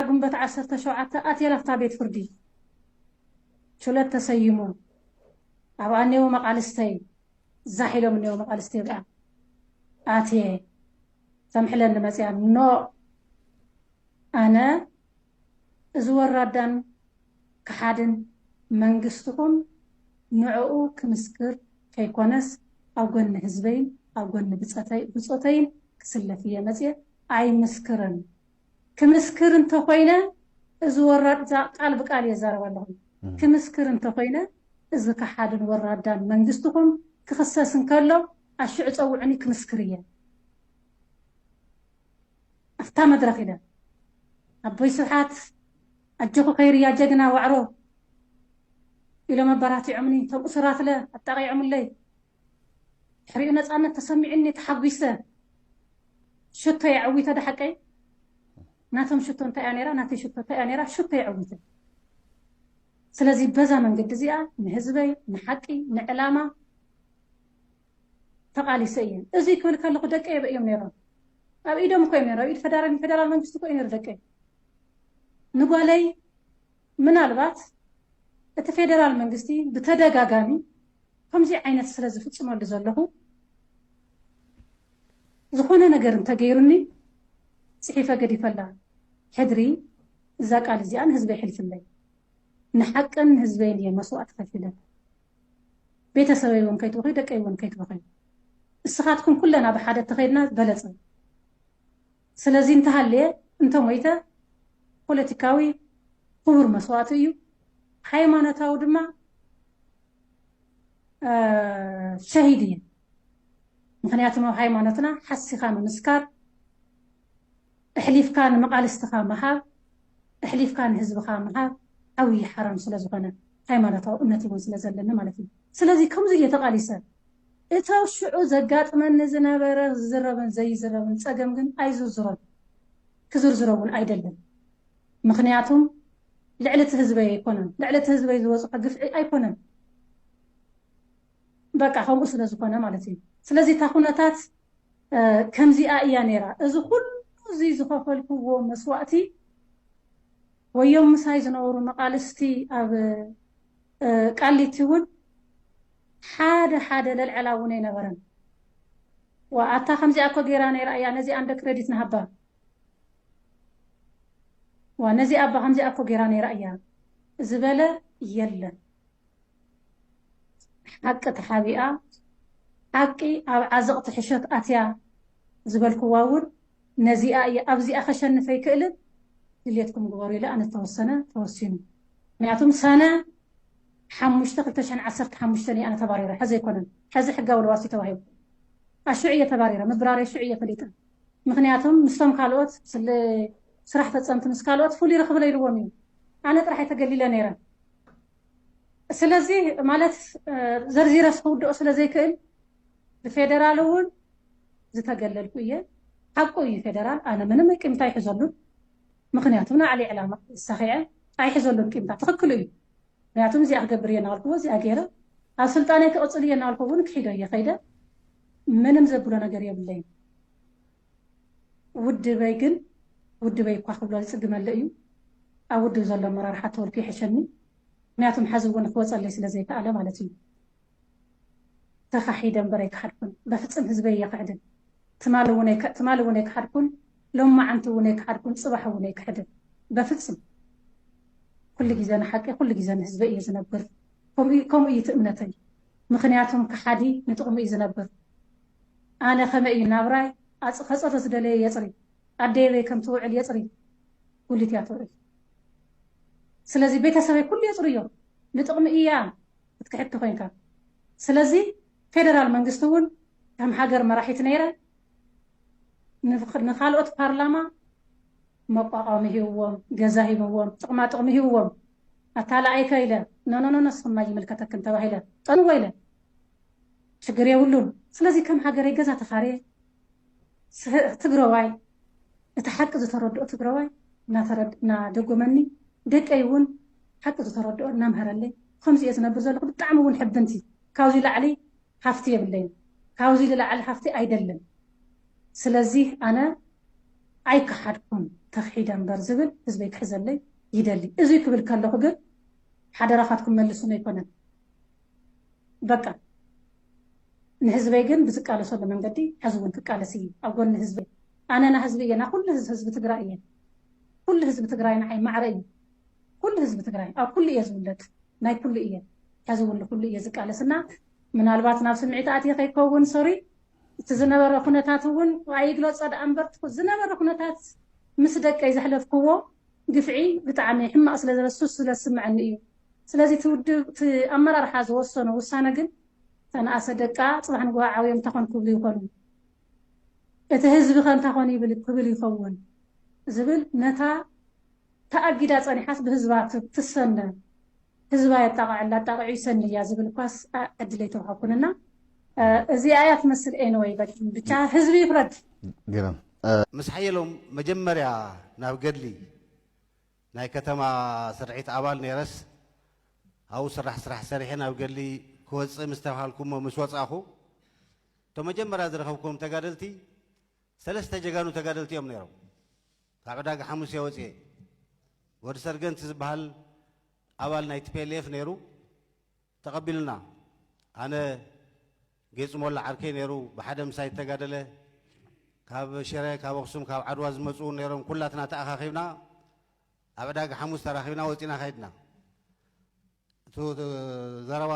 ግንቦት ዓሰርተ ሸውዓተ ኣትየ ናብታ ቤት ፍርዲ ችሎት ተሰይሙ ኣብኣ እኔዉ መቓልስተይ ዛሕ ኢሎም እኔዉ መቓልስተይ ኣብኣ ኣትየ ተምሕለኒ መፅያ ኖእ ኣነ እዚ ወራዳን ከሓድን መንግስትኹም ንዕኡ ክምስክር ከይኮነስ ኣብ ጎኒ ህዝበይን ኣብ ጎኒ ብፆተይን ክስለፍ እየ መፅየ ኣይምስክርን ክምስክር እንተ ኾይነ እዚ ወራድ እዛ ቃል ብቃል እየ ዝዛረብ ኣለኹ ክምስክር እንተ ኾይነ እዚ ከሓድን ወራዳን መንግስትኹም ክኽሰስ እንከሎ ኣሽዑ ፀውዑኒ ክምስክር እየ ኣፍታ መድረኽ ኢለ ኣቦይ ስብሓት ኣጆኹ ከይርያ ጀግና ዋዕሮ ኢሎም ኣበራቲዖምኒ እቶም እሱራትለ ኣጣቂዖምለይ ድሕሪኡ ነፃነት ተሰሚዑኒ ተሓጒሰ ሽቶ የዐዊተ ዳሓቀይ ናቶም ሽቶ እንታይ እያ ነይራ ናተይ ሽቶ እንታይ እያ ነይራ ሽቶ የዐዊተ ስለዚ በዛ መንገዲ እዚኣ ንህዝበይ ንሓቂ ንዕላማ ተቓሊሰ እየ እዚ ክብል ከለኹ ደቂ የበ እዮም ነይሮም ኣብ ኢዶም እኮ እዮም ነይሮም ኣብ ኢድ ፈደራል ፌደራል መንግስቲ እኮ እዩ ነይሩ ደቂ ንጓለይ ምናልባት እቲ ፌደራል መንግስቲ ብተደጋጋሚ ከምዙይ ዓይነት ስለ ዝፍፅመሉ ዘለኹ ዝኾነ ነገር እንተገይሩኒ ፅሒፈ ገዲፈላ ሕድሪ እዛ ቃል እዚኣ ንህዝበይ ሕልፍለይ ንሓቅን ንህዝበይን እየ መስዋእቲ ከፊለ ቤተሰበይ እውን ከይትበኸዩ ደቀይ እውን ከይትበኸዩ እስኻትኩም ኩለና ብሓደ እተኸይድና በለፀ ስለዚ እንተሃልየ እንተሞይተ ፖለቲካዊ ክቡር መስዋእቲ እዩ፣ ሃይማኖታዊ ድማ ሸሂድ እየ። ምኽንያቱ ኣብ ሃይማኖትና ሓሲኻ ምምስካር፣ እሕሊፍካ ንመቓልስትኻ ምሃብ፣ እሕሊፍካ ንህዝብኻ ምሃብ ዓብዪ ሓራም ስለዝኾነ፣ ሃይማኖታዊ እምነት እውን ስለዘለኒ ማለት እዩ። ስለዚ ከምዚ እየ ተቓሊሰ። እቲ ኣብ ሽዑ ዘጋጥመኒ ዝነበረ ዝዝረብን ዘይዝረብን ጸገም ግን ኣይዝርዝሮን። ክዝርዝሮ እውን ኣይደልን። ምኽንያቱም ልዕሊ እቲ ህዝበይ ኣይኮነን። ልዕሊ እቲ ህዝበይ ዝበጽሖ ግፍዒ ኣይኮነን። በቃ ከምኡ ስለ ዝኾነ ማለት እዩ። ስለዚ እታ ኩነታት ከምዚኣ እያ ነይራ። እዚ ኩሉ እዚ ዝኸፈልክዎ መስዋእቲ ወዮም ምሳይ ዝነበሩ መቓልስቲ ኣብ ቃሊቲ ውን ሓደ ሓደ ለልዐላ ውን ኣይነበረን ዋእ ኣታ ከምዚኣ እኮ ጌራ ነይራ እያ ነዚኣ እንደ ክረዲት ንሃባ ዋእ ነዚኣ እባ ከምዚኣ እኮ ጌራ ነይራ እያ ዝበለ የለን ሓቂ ተሓቢኣ ሓቂ ኣብ ዓዘቕቲ ሕሾት ኣትያ ዝበልክዋ ውን ነዚኣ እየ ኣብዚኣ ከሸንፍ ኣይክእልን ድልየትኩም ግበሩ ኢለ ኣነ ተወሰነ ተወሲኑ ምክንያቱም ሰነ ሓሙሽተ ክልተ ሽሕን ዓሰርተ ሓሙሽተን እየ ኣነ ተባሪረ ሐዚ ኣይኮነን ሐዚ ሕጋዊ ልዋስ እዩ ተባሂሉ ኣሹዕ እየ ተባሪረ ምብራረይ ሹዕ እየ ፈሊጠ ምክንያቱም ምስቶም ካልኦት ስለ ስራሕ ፈፀምቲ ምስ ካልኦት ፍሉይ ረክብለ ኢልዎም እዩ ኣነ ጥራሕ እየ ተገሊለ ነይረ ስለዚ ማለት ዘርዚረስ ክውድኦ ስለ ዘይክእል ብፌደራል እውን ዝተገለልኩ እየ ሓቁ እዩ ፌደራል ኣነ ምንም ቂምታ ኣይሕዘሉን ምክንያቱ ናዕሊ ዕላማ ሰኺዐ ኣይሕዘሉን ቂምታ ትክክሉ እዩ ምክንያቱ እዚኣ ክገብር እየ ናበልኩዎ እዚኣ ገይረ ኣብ ስልጣነይ ክቕፅል እየ ናበልኩ እውን ክሒዶ እየ ከይደ ምንም ዘብሎ ነገር የብለይን ውድበይ ግን ውድበይ እኳ ክብሎ ዝፅግመለ እዩ ኣብ ውድብ ዘሎ ኣመራርሓ ተወልኩ ይሕሸኒ ምክንያቱም ሓዚ እውን ክወፀለይ ስለዘይከኣለ ማለት እዩ ተኻሒደ እምበር ኣይከሓድኩን በፍጽም ህዝበይ ኣይኽሕድን ትማሊ ውን ትማሊ ውን ኣይከሓድኩን ሎማዓንቲ ውን ኣይከሓድኩን ጽባሕ ውን ኣይክሕድን በፍጽም ኩሉ ግዜ ንሓቂ ኩሉ ግዜ ንህዝበይ እየ ዝነብር ከምኡ ከምኡ እዩ ትእምነተይ ምኽንያቱም ከሓዲ ንጥቕሙ እዩ ዝነብር ኣነ ከመይ እዩ ናብራይ ኣጽ ከጽሪ ዝደለየ የጽሪ ኣደየበይ ከም ትውዕል የጽሪ ጉሊት እያ ትውዕል ስለዚ ቤተሰበይ ኩሉ የጽርዮ ንጥቕሚ እያ ክትክሕድ ተኾይንካ ስለዚ ፌደራል መንግስቲ እውን ከም ሃገር መራሒት ነይረ ንኻልኦት ፓርላማ መቋቋሚ ሂብዎም ገዛ ሂብዎም ጥቕማ ጥቕሚ ሂብዎም ኣታላኣይከ ኢለ ኖኖኖ ንስኽም ኣይምልከተክን ተባሂለ ጠንወ ኢለ ሽግር የብሉን ስለዚ ከም ሃገረይ ገዛ ተኻርየ ትግረዋይ እቲ ሓቂ ዝተረድኦ ትግረዋይ እናደጎመኒ ደቀይ እውን ሓቂ ዝተረድኦ እናምሀረለይ ብኸምዚ እየ ዝነብር ዘለኹ ብጣዕሚ እውን ሕብንቲ ካብዚ ላዕሊ ሃፍቲ የብለይን ካብዚ ልላዕሊ ሃፍቲ ኣይደልን ስለዚ ኣነ ኣይከሓድኩን ተኽሒደ እምበር ዝብል ህዝበይ ክሕዘለይ ይደሊ እዙይ ክብል ከለኹ ግን ሓደራኻትኩም መልሱኒ ኣይኮነን በቃ ንህዝበይ ግን ብዝቃለሰሉ መንገዲ ሐዚ እውን ክቃለስ እየ ኣብ ጎኒ ህዝበይ ኣነ ናህዝቢ እየ ናኩሉ ህዝቢ ትግራይ እየ ኩሉ ህዝቢ ትግራይ ንዓይ ማዕረ እዩ ኩሉ ህዝቢ ትግራይ ኣብ ኩሉ እየ ዝውለድ ናይ ኩሉ እየ ሐዚ እውን ንኩሉ እየ ዝቃለስ እና ምናልባት ናብ ስምዒት ኣትየ ከይከውን ሶሪ እቲ ዝነበረ ኩነታት እውን ኣይግለፆ ደኣ እምበር ዝነበረ ኩነታት ምስ ደቀይ ዘሕለፍክዎ ግፍዒ ብጣዕሚ ሕማቅ ስለ ዝረሱ ስለ ዝስምዐኒ እዩ ስለዚ እቲ ውድብ እቲ ኣመራርሓ ዝወሰኖ ውሳነ ግን ዝተንኣሰ ደቃ ፅባሕ ንጉሆ ዓብዮም እንታይ ኮን ክብሉ ይኾኑ? እቲ ህዝቢ ከ እንታይ ኮን ይብል ክብል ይኸውን? ዝብል ነታ ተኣጊዳ ፀኒሓስ ብህዝባ ትሰነ ህዝባ የጣቕዐላ ኣጣቒዑ ይሰኒ እያ ዝብል እኳስ ዕድል ኣይተውሃብኩን እና እዚኣ እያ ትመስል ኤንወይ በል ብቻ ህዝቢ ይፍረድ። ግርም። ምስ ሓየሎም መጀመርያ ናብ ገድሊ ናይ ከተማ ስርዒት ኣባል ነይረስ ኣብኡ ስራሕ ስራሕ ሰሪሐ ናብ ገድሊ ክወፅእ ምስ ተብሃልኩ እሞ ምስ ወፃእኹ እቶም መጀመርያ ዝረኸብክዎም ተጋደልቲ ሰለስተ ጀጋኑ ተጋደልቲ እዮም ነይሮም። ካብ ዕዳጋ ሓሙስ እየ ወፅኤ። ወዲ ሰርገንቲ ዝበሃል ኣባል ናይ ቲፔሌፍ ነይሩ። ተቐቢሉና ኣነ ጌፁ ሞላ ዓርከይ ነይሩ ብሓደ ምሳይ ዝተጋደለ ካብ ሽረ ካብ ኣኽሱም ካብ ዓድዋ ዝመፁ እውን ነይሮም ኩላትና ተኣኻኺብና ኣብ ዕዳጋ ሓሙስ ተራኺብና ወፂና ከይድና እቲ ዘረባ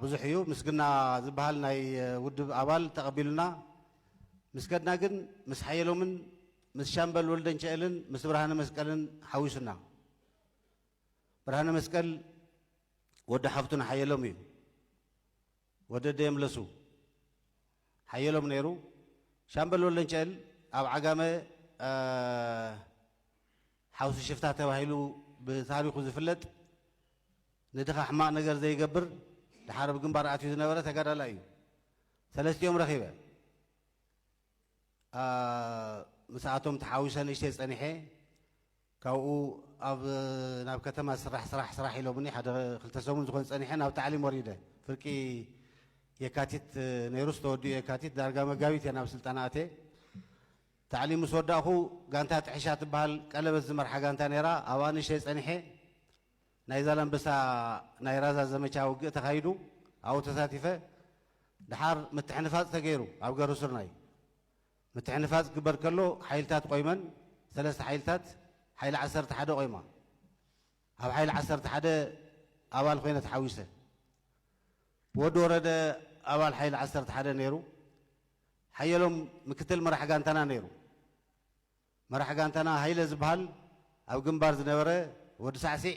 ብዙሕ እዩ ምስግና ዝበሃል ናይ ውድብ ኣባል ተቐቢሉና ምስ ከድና ግን ምስ ሓየሎምን ምስ ሻምበል ወልደንቸኤልን ምስ ብርሃነ መስቀልን ሓዊሱና ብርሃነ መስቀል ወዲ ሓፍቱን ሓየሎም እዩ። ወዲ ደየምለሱ ሓየሎም ነይሩ። ሻምበል ወለንጨል ኣብ ዓጋመ ሓውሲ ሽፍታ ተባሂሉ ብታሪኹ ዝፍለጥ ንድኻ ሕማቕ ነገር ዘይገብር ድሓር ኣብ ግንባር ኣትዩ ዝነበረ ተጋዳላይ እዩ። ሰለስቲኦም ረኺበ ምስኣቶም ተሓዊሰ ንእሽተይ ጸኒሐ ካብኡ ኣብ ናብ ከተማ ስራሕ ስራሕ ስራሕ ኢሎምኒ ሓደ ክልተ ሰሙን ዝኮን ጸኒሐ ናብ ታዕሊም ወሪደ ፍርቂ የካቲት ነይሩስ ተወዲኡ የካቲት ዳርጋ መጋቢት እየ ናብ ስልጠና ኣትየ ታዕሊም ምስ ወዳእኩ ጋንታ ጥሕሻ ትበሃል ቀለበት ዝመርሓ ጋንታ ነይራ ኣብኣ ንእሽተይ ጸኒሐ ናይ ዛላምበሳ ናይ ራዛ ዘመቻ ውግእ ተካይዱ ኣብኡ ተሳቲፈ ድሓር ምትሕንፋጽ ተገይሩ ኣብ ገሩስርናይ ምትሕንፋጽ ክግበር ከሎ ሓይልታት ቆይመን ሰለስተ ሓይልታት ሓይሊ ዓሰርተ ሓደ ቆይማ ኣብ ሓይሊ ዓሰርተ ሓደ ኣባል ኮይነ ተሓዊሰ ብወዲ ወረደ ኣባል ሓይሊ ዓሰርተ ሓደ ነይሩ ሓየሎም ምክትል መራሕ ጋንታና ነይሩ መራሕ ጋንታና ሃይለ ዝበሃል ኣብ ግንባር ዝነበረ ወዲ ሳዕሲዕ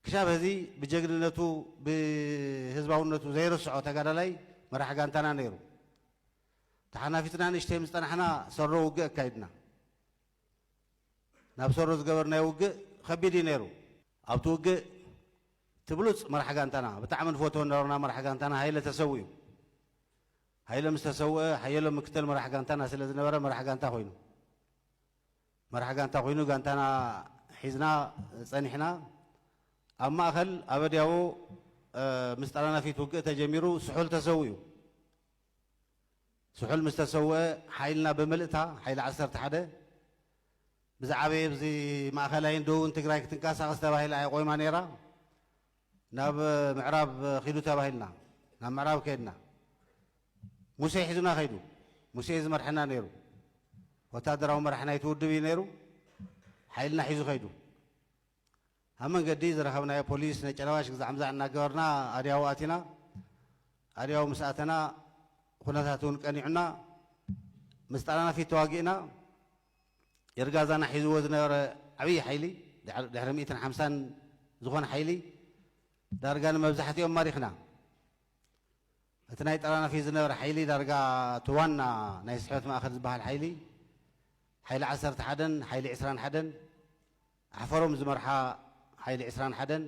ክሻብ ህዚ ብጀግንነቱ ብህዝባውነቱ ዘይርስዖ ተጋዳላይ መራሕ ጋንታና ነይሩ ተሓናፊጽና ንእሽተይ ምስ ጸናሕና ሰሮ ውግእ ኣካይድና። ናብ ሰሮ ዝገበርናዮ ውግእ ከቢድ እዩ ነይሩ። ኣብቲ ውግእ እቲ ብሉጽ መራሕ ጋንታና ብጣዕሚ ንፈትዎ ዝነበርና መራሕ ጋንታና ሃይለ ተሰዊኡ። ሃይለ ምስ ተሰውአ ሓየሎም ምክትል መራሕ ጋንታና ስለ ዝነበረ መራሕ ጋንታ ኮይኑ። መራሕ ጋንታ ኮይኑ ጋንታና ሒዝና ጸኒሕና። ኣብ ማእከል ኣበድያዎ ምስ ጠራናፊት ውግእ ተጀሚሩ ስሑል ተሰዊኡ። ስሑል ምስ ተሰውኤ ሓይልና ብምልእታ፣ ሓይሊ ዓሰርተ ሓደ፣ ብዝዓበየ ብዚ ማእኸላይን ደቡብን ትግራይ ክትንቀሳቐስ ተባሂላ እያ ቆይማ ነይራ። ናብ ምዕራብ ኺዱ ተባሂልና ናብ ምዕራብ ከይድና። ሙሴ ሒዙና ከይዱ። ሙሴ እዩ ዝመርሐና ነይሩ። ወታደራዊ መራሒ ናይቲ ውድብ እዩ ነይሩ። ሓይልና ሒዙ ከይዱ። ኣብ መንገዲ ዝረኸብናዮ ፖሊስ ነጨናባሽ ግዛዕምዛዕ እናገበርና ኣድያቦ ኣቲና። ኣድያቦ ምስ ኣተና ኩነታት እውን ቀኒዑና ምስ ጣልያናፊት ተዋጊእና። ይርጋዛና ሒዝዎ ዝነበረ ዓብዪ ሓይሊ ድሕሪ ሚእትን ሓምሳን ዝኾነ ሓይሊ ዳርጋ ንመብዛሕቲኦም ማሪኽና። እቲ ናይ ጣልያናፊት ዝነበረ ሓይሊ ዳርጋ እቲ ዋና ናይ ስሕበት ማእኸል ዝበሃል ሓይሊ ሓይሊ ዓሰርተ ሓደን ሓይሊ ዕስራን ሓደን ኣሕፈሮም ዝመርሓ ሓይሊ ዕስራን ሓደን፣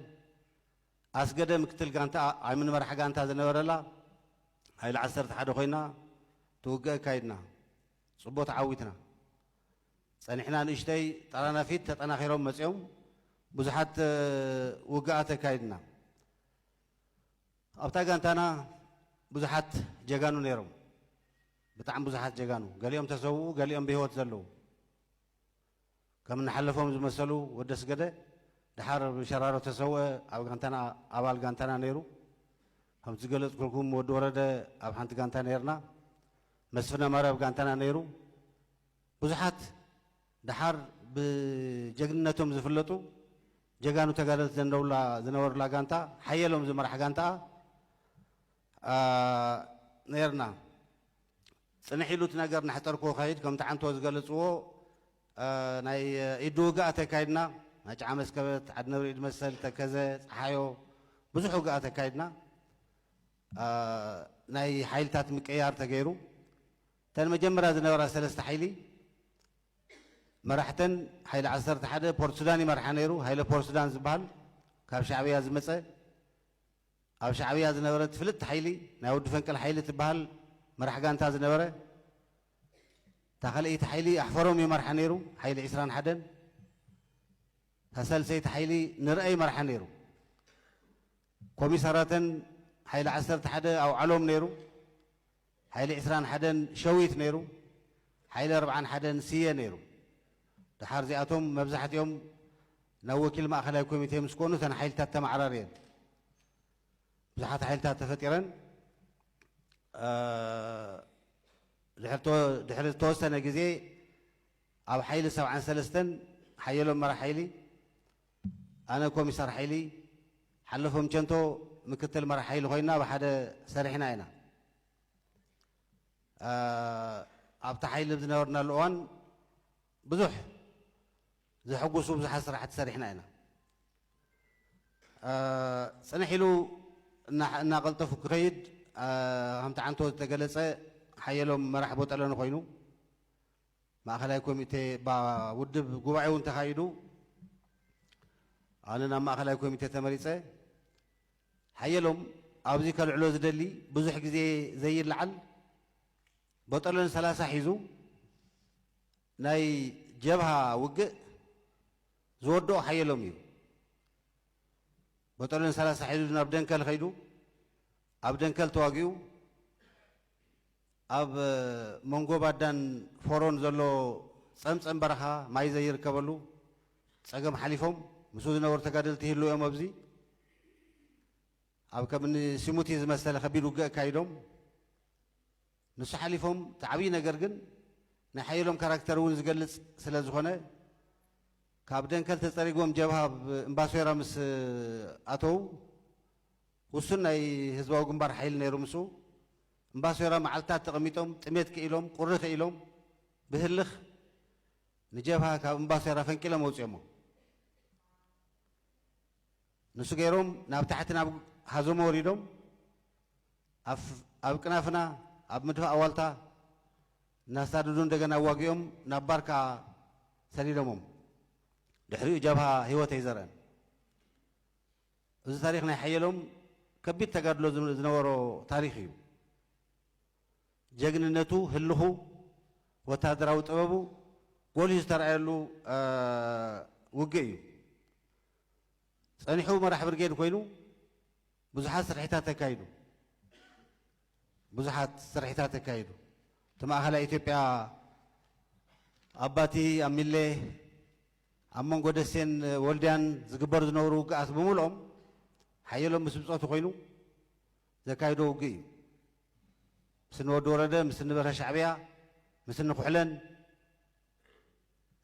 ኣስገደ ምክትል ጋንታ ዓሚን መራሒ ጋንታ ዝነበረላ ሓይሊ ዓሰርተ ሓደ ኮይና ትውግእ ኣካይድና። ጽቡቕ ተዓዊትና። ጸኒሕና ንእሽተይ ጠራናፊት ተጠናኺሮም መጺኦም ብዙሓት ውግኣት ኣካይድና። ኣብታ ጋንታና ብዙሓት ጀጋኑ ነይሮም። ብጣዕሚ ብዙሓት ጀጋኑ፣ ገሊኦም ተሰውኡ ገሊኦም ብህይወት ዘለዉ። ከም እንሓለፎም ዝመሰሉ ወዲ ኣስገደ ደሓር ብሸራሮ ተሰውኣ ኣብ ጋንታና ኣባል ጋንታና ነይሩ ከምቲ ዝገለጽኩልኩም ወዲ ወረደ ኣብ ሓንቲ ጋንታ ነይርና መስፍን ኣማረ ኣብ ጋንታና ነይሩ ብዙሓት ደሓር ብጀግንነቶም ዝፍለጡ ጀጋኑ ተጋደልቲ ዘንደውላ ዝነበሩላ ጋንታ ሓየሎም ዝመራሕ ጋንታኣ ነይርና። ጽንሕ ኢሉ እቲ ነገር እናሕጠርኩ ክኸይድ ከምቲ ዓንቶ ዝገለጽዎ ናይ ኢዱ ውግኣት ኣካይድና። ናይ ጭዓ መስከበት፣ ዓድነብሪ ኢድመሰል፣ ተከዘ፣ ጸሓዮ ብዙሕ ውግኣት ኣካይድና። ናይ ሓይልታት ምቅይያር ተገይሩ። እተን መጀመርያ ዝነበራ ሰለስተ ሓይሊ መራሕተን ሓይሊ ዓሰርተ ሓደ ፖርትሱዳን ይመርሓ ነይሩ። ሃይለ ፖርትሱዳን ዝበሃል ካብ ሻዕብያ ዝመጸ። ኣብ ሻዕብያ ዝነበረት ፍልጥቲ ሓይሊ ናይ ወዲ ፈንቅል ሓይሊ ትበሃል መራሕ ጋንታ ዝነበረ እታ ካልኣይቲ ሓይሊ ኣሕፈሮም ይመርሓ ነይሩ ሓይሊ ዕስራን ሓደን እታ ሳልሰይቲ ሓይሊ ንርኣ ይመርሓ ነይሩ ኮሚሳራተን ሓይሊ ዓሰርተ ሓደ ኣውዓሎም ነይሩ ሓይሊ ዕስራን ሓደን ሸዊት ነይሩ፣ ሓይሊ ኣርብዓን ሓደን ስየ ነይሩ። ደሓር እዚኣቶም መብዛሕቲኦም ናብ ወኪል ማእኸላይ ኮሚቴ ምስ ኮኑ እተን ሓይልታት ተመዓራርየን። ብዙሓት ሓይልታት ተፈጢረን። ድሕሪ ዝተወሰነ ግዜ ኣብ ሓይሊ ሰብዓን ሰለስተን ሓየሎም መራሕ ሓይሊ፣ ኣነ ኮሚሳር ሓይሊ ሓለፎም ቸንቶ ምክትል መራሕ ሓይሊ ኮይና ብሓደ ሰሪሕና ኢና። ኣብቲ ሓይሊ ኣብ ዝነበርናሉ እዋን ብዙሕ ዘሐጉሱ ብዙሓት ስራሕቲ ሰሪሕና ኢና። ፅንሕ ኢሉ እናቐልጠፉ ክኸይድ ከምቲ ዓንቶ ዝተገለፀ ሓየሎም መራሕ ቦጠለኒ ኮይኑ ማእኸላይ ኮሚቴ እባ ውድብ ጉባኤ እውን ተኻይዱ ኣነ ናብ ማእኸላይ ኮሚቴ ተመሪፀ ሓየሎም ኣብዚ ከልዕሎ ዝደሊ ብዙሕ ግዜ ዘይለዓል በጠሎን ሰላሳ ሒዙ ናይ ጀብሃ ውግእ ዝወድኦ ሓየሎም እዩ በጠሎን ሰላሳ ሒዙ ናብ ደንከል ከይዱ ኣብ ደንከል ተዋጊኡ ኣብ መንጎ ባዳን ፎሮን ዘሎ ጸምጸም በረኻ ማይ ዘይርከበሉ ጸገም ሓሊፎም ምስኡ ዝነበሩ ተጋደልቲ ይህልው እዮም ኣብዚ ኣብ ከምኒ ሲሙቲ ዝመሰለ ከቢድ ውግእ ኣካይዶም ንሱ ሓሊፎም እቲ ዓብዪ ነገር ግን ናይ ሓየሎም ካራክተር እውን ዝገልጽ ስለ ዝኾነ ካብ ደንከል ተጸሪጎም ጀብሃ ኣብ እምባሶይራ ምስ ኣተው ውሱን ናይ ህዝባዊ ግንባር ሓይሊ ነይሩ ምስኡ እምባሶይራ መዓልትታት ተቐሚጦም ጥሜት ክኢሎም ቁሪ ክኢሎም ብህልኽ ንጀብሃ ካብ እምባሶይራ ፈንቂሎም ኣውፂኦሞ። ንሱ ገይሮም ናብ ታሕቲ ናብ ሃዞሞ ወሪዶም ኣብ ቅናፍና ኣብ ምድፋእ ኣዋልታ እናሳደዱ እንደገና ኣዋጊኦም ናብ ባርካ ሰዲዶሞም። ድሕሪኡ ጀብሃ ህይወተይ ዘርአን እዚ ታሪኽ ናይ ሓየሎም ከቢድ ተጋድሎ ዝነበሮ ታሪኽ እዩ። ጀግንነቱ፣ ህልኹ፣ ወተሃደራዊ ጥበቡ ጎሊሁ ዝተርኣየሉ ውግእ እዩ። ጸኒሑ መራሕ ብርጌድ ኮይኑ ብዙሓት ስርሒታት ተካይዱ ብዙሓት ስርሒታት ተካይዱ እቲ ማእኸላይ ኢትዮጵያ ኣባቲ ኣብ ሚሌ ኣብ መንጎ ደሴን ወልድያን ዝግበር ዝነብሩ ውግኣት ብምልኦም ሓየሎም ምስ ብጾቱ ኮይኑ ዘካይዶ ውግእ እዩ። ምስ እኒ ወዲ ወረደ፣ ምስ እኒ በርሀ ሻዕብያ፣ ምስ እኒ ኩሕለን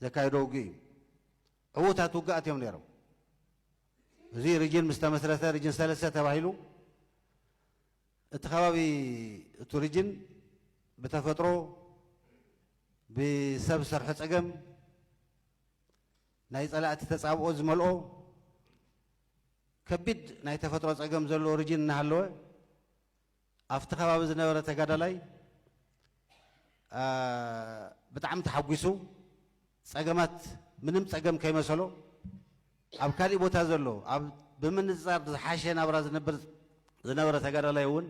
ዘካይዶ ውግእ እዩ። ዕዉታት ውግኣት እዮም ነይሮም። እዚ ሪጅን ምስ ተመስረተ ሪጅን ሰለስተ ተባሂሉ እቲ ከባቢ እቲ ሪጅን ብተፈጥሮ ብሰብ ዝሰርሖ ፀገም ናይ ፀላእቲ ተፃብኦ ዝመልኦ ከቢድ ናይ ተፈጥሮ ፀገም ዘለዎ ሪጅን እናሃለወ ኣብቲ ከባቢ ዝነበረ ተጋዳላይ ብጣዕሚ ተሓጒሱ ጸገማት ምንም ጸገም ከይመሰሎ ኣብ ካሊእ ቦታ ዘሎ ኣብ ብምንጽጻር ዝሓሸ ናብራ ዝነብር ዝነበረ ተጋዳላይ እውን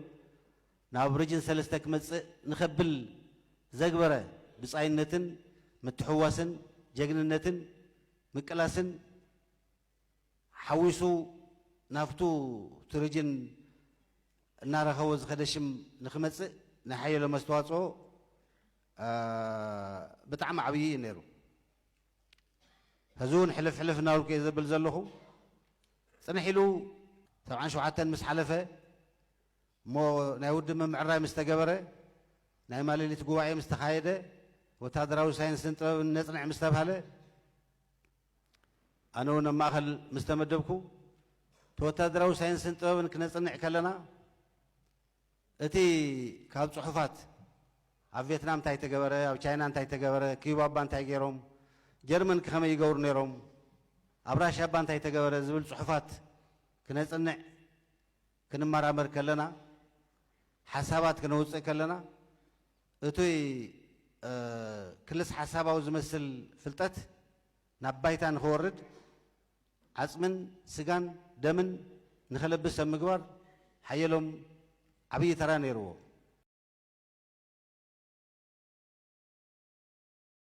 ናብ ሪጅን ሰለስተ ክመጽእ ንኸብል ዘግበረ ብጻይነትን ምትሕውዋስን ጀግንነትን ምቅላስን ሓዊሱ ናብቱ ትርጅን እናረኸቦ ዝኸደ ሽም ንክመፅእ ናይ ሓየሎም ኣስተዋፅኦ ብጣዕሚ ዓብዪ እዩ ነይሩ። ሕዚ እውን ሕልፍ ሕልፍ እናበልኩ እየ ዘብል ዘለኹ። ፅንሕ ኢሉ ሰብዓን ሸውዓተን ምስ ሓለፈ እሞ ናይ ውድብ ምምዕራይ ምስ ተገበረ፣ ናይ ማሌሊት ጉባኤ ምስ ተኻየደ፣ ወታደራዊ ሳይንስን ጥበብን ነፅንዕ ምስ ተብሃለ ኣነ እውን ኣብ ማእኸል ምስ ተመደብኩ ተወታደራዊ ሳይንስን ጥበብን ክነፅንዕ ከለና እቲ ካብ ፅሑፋት ኣብ ቬትናም እንታይ ተገበረ፣ ኣብ ቻይና እንታይ ተገበረ፣ ክዩባ እባ እንታይ ገይሮም፣ ጀርመን ከመይ ይገብሩ ነይሮም፣ ኣብ ራሽያ እባ እንታይ ተገበረ ዝብል ፅሑፋት ክነፅንዕ ክንመራመር ከለና ሓሳባት ክነውፅእ ከለና እቱይ ክልስ ሓሳባዊ ዝመስል ፍልጠት ናብ ባይታ ንክወርድ ዓፅምን ስጋን ደምን ንክለብስ ኣብ ምግባር ሓየሎም ዓብይ ተራ ነይርዎ።